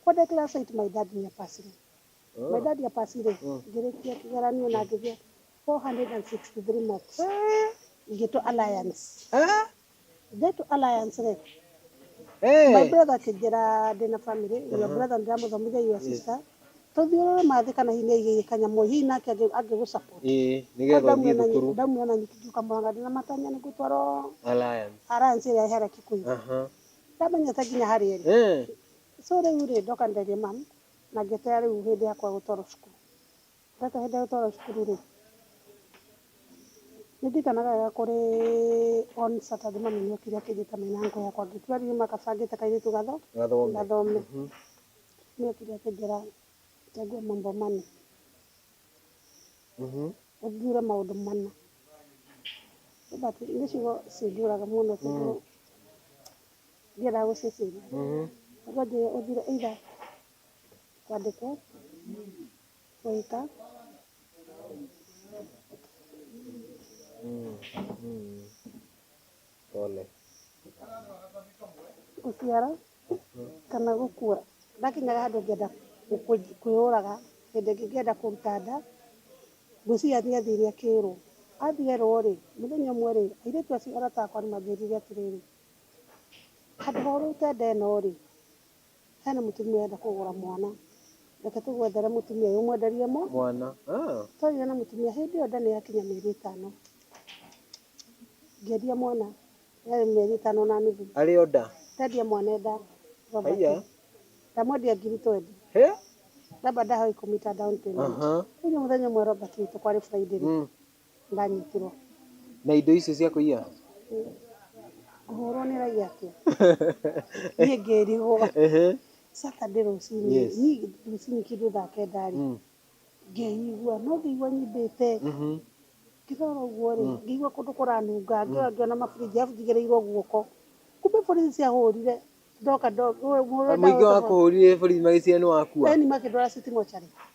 ko declaration it my dad near passing my dad ya passing rä ngĩrĩkia kĩgeranio na ngĩgĩa 463 marks ngĩtwo alliance Get Alliance rĩ, my brother akĩnjĩra ndĩna family, your brother ndĩramũthomithia your sister, tũthiũrũre ma thĩ kana hihi nĩ aigĩire kanyamũ, hihi nake angĩ- angĩgũ support. Ĩĩ, Tondũ nĩgetha ndamuona ũthiĩ nyi- thukuru ndamuona nyiki ngiuka Mũrang'a ndĩna matanya nĩ ngũtwarwo Alliance. Alliance ĩrĩa ĩhera Kikuyu. Aha. Ndamenyete nginya harĩa ĩrĩ. Eh, So rĩu rĩ, ndoka nderie mum, na ngĩeterera rĩu hĩndĩ yakwa gũtwarwo cukuru. Gaka hĩndĩ ĩrĩa gũtwaragwo cukuru rĩ, nĩ ndirikanaga wega kũrĩ on Saturday mami nĩ okire akĩnjĩta me na uncle yakwa angĩ tũrĩ arĩ nyũmba gabangĩte kairĩtu gathome, nĩ okire akĩnjĩra chagua mambo manne, ũthuure maũndũ mana. Nĩ ciugo cinjũraga mũno tondũ ndiendaga gũciciria. Akanjĩra ũthuure either kwandĩkwo... Oita. Mm, mm. Pole. Gũciara kana gũkua. Ndakinyaga handũ ngĩenda gũkũ- kwĩyũraga, hĩndĩ ĩngĩ ngĩenda kũruta nda, ngwĩciria athiĩ athire akĩrwo. Athiĩ erwo rĩ, mũthenya ũmwe rĩ, airĩtu acio arata akwa nĩ manjĩrire atĩrĩrĩ, handũ ha ũrute nda ĩno rĩ, Hena mũtumia ũrenda kũgũra mwana. Reke tũgwethere mũtumia ũyũ ũmwenderie mũ. Mwana. Ah. Twarire na mũtumia hĩndĩ ĩyo nda nĩ yakinya mĩeri ĩtano. Ngĩendia mwana yarĩ mĩeri ĩtano na nuthu. Arĩ o nda. Ndendia mwana e nda. Robert. Haiya. Ndamwendia ngiri twendi. He? Robert ndahoe kũmita down payment. Aha. Rĩu nĩ mũthenya ũmwe Robert witũ kwarĩ Friday. Mm. Ndanyitirwo. Na indo icio cia kũiya? Ngũhũrwo nĩ raiya atĩa? Niĩ ngĩrigwo. Saturday rũcinĩ rĩ, niĩ rũcinĩ kĩndũ thaa kenda rĩ, ngĩigua, no ngĩigua nyimbĩte. Ngĩrora ũguo rĩ, ngĩigua kũndũ kũranunga, ngĩrora ngĩona mabũrũri arabu njigĩrĩirwo guoko. Kumbe borithi ciahũrire, ndoka. Mũingĩ wakũhũrire borithi magĩciria nĩ wakua? Ĩni makĩndwara city mortuary.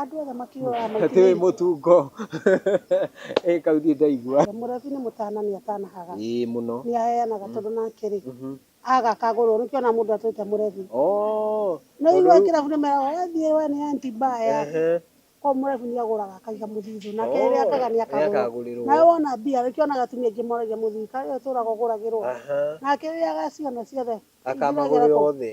Andũ othe makiugaga maitire indo. Tiwĩ mũtungo. Ĩĩ kau niĩ ndaigua. Mũlevi nĩ mũtana nĩ atanahaga. Ĩĩ mũno. Nĩ aheanaga tondũ nake rĩ, aga akagũrwo. Nĩkĩo ũrona mũndũ atwĩte mũlevi. Oo. Nĩ ũiguaga kĩrabu nĩ meraga we thiĩ we nĩ empty bar yake. Kũguo mũlevi nĩ agũraga akaiga mũthithũ. Nake rĩrĩa akaiga nĩ akagũrĩrwo. Nawe wona mbia nĩkĩo wonaga atumia aingĩ moragia mũthuri kaĩ we ũtũraga ũgũragĩrwo. Nake rĩrĩa agaciona ciothe. Akamagũrĩra othe.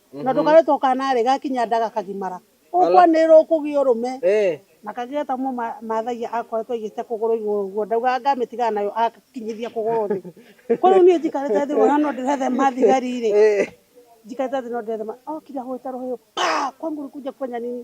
na ndũkarĩtwo kanarĩ gakinya nda gakagimara ũkwanĩrĩrwo ũkũgĩa ũrũme Eh. na kagĩa ta mũma mathagia akoretwo aigĩte kũgũrũ igũrũ ũguo ndaugaga ngamitigana nayo akinyithia kũgũrũ thĩ kwa rĩu niĩ njikarĩte thĩ wona no ndĩrethema thigari rĩ Eh. njikarĩte thĩ no ndĩrethema okire ahũĩte rũhĩũ pa kwangu ulikuja kufanya nini